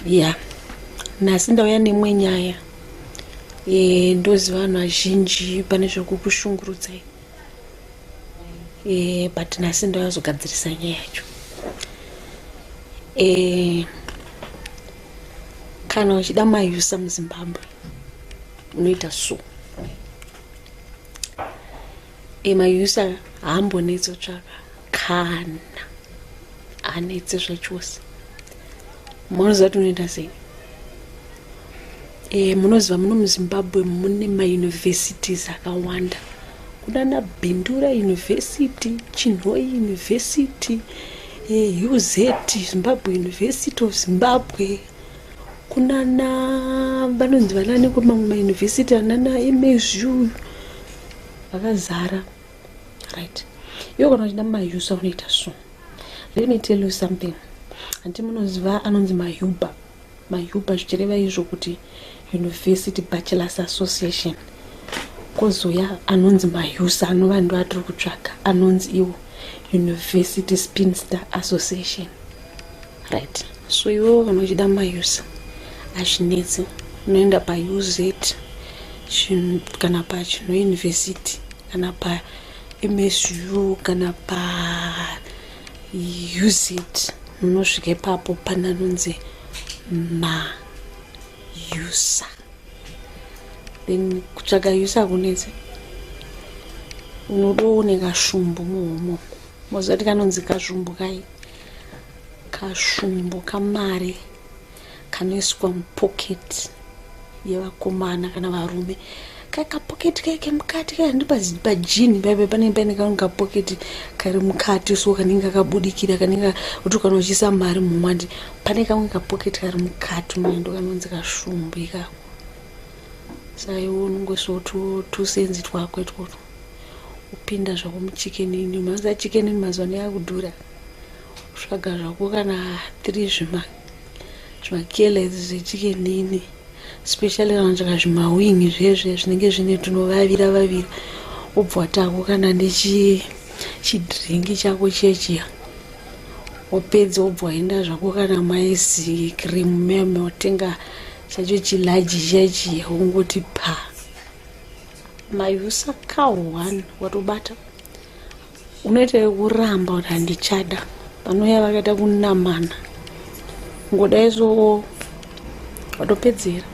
ya nhasi ndauya nemwe nyaya e, ndoziva vanhu vazhinji pane zvekukushungurudzai e, but nhasi ndauya zogadzirisa nyaya yacho e, kana uchida mayusa muzimbabwe unoita so emayusa haambonetso tsvaka kana anetse zvachose munoziva kuti unoita sei e, munoziva muno muzimbabwe mune mauniversities akawanda kunana bindura university chinhoi university e, uz zimbabwe university of zimbabwe kunana vanonzi vanani kumamwe mayunivhesiti anana emazvi uyu vakazara right iwo kana uchida mayusa unoita so let me tell you something hanti munoziva anonzi mayuba mayuba zvichireva izvo kuti university bachelors association kozouya anonzi mayusa anova ndo atiri kutsvaga anonzi iwo university spinster association right so iwewo kana uchida mayusa hazvinetsi unoenda pauz kana pachinouniversity kana pamsu kana pauz unosvika ipapo pana nonzi mayusa then kutsvaga yusa kunetsi unodooneka shumbu muhomo mozati kanonzi kazvumbu kai kashumbo kamari kanoiswa mupoketi yevakomana kana varume kakapoketi kaye kemukati kaya ndipajini paipe panenge paine kamwe kapoketi kari mukati so kanenge kakabudikira kanenge kuti kana uchiisa mari mumwandi pane kamwe kapoketi kari mukati maendo kanonzi kashumbo ikako saiwo unonge so tusenzi twako itwotwo upinda zvako muchikenini maza chikenini mazuva ano yakudhura tsvaga zvako kana tiri zvimakelezi zvechikenini especially kana tsvaga zvimawing zvezve zvinenge zvine tunovavira vavira wobva watako kana nechidringi chako chechiya wopedza wobva waenda zvako kana maizi cream meme wotenga chacho chilaji chechiya wongoti pa mayusa cow one watobata unoita yekuramba kuti handichada vanouya vakaita kunamana ngoda izvoo vatopedzera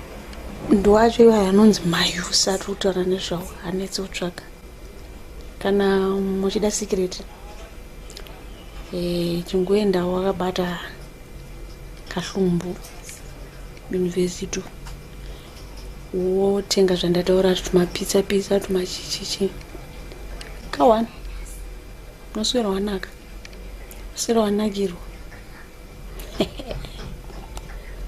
ndo acho ivo anonzi mayusi ari kutaura nezvavo hanetse kutsvaga kana muchida sikireti e, eh, chingoenda wakabata kahlumbu yunivhesiti wotenga zvandataura tumapitsa pitsa tumachichichi kawani unoswera wanaka uswera wanakirwa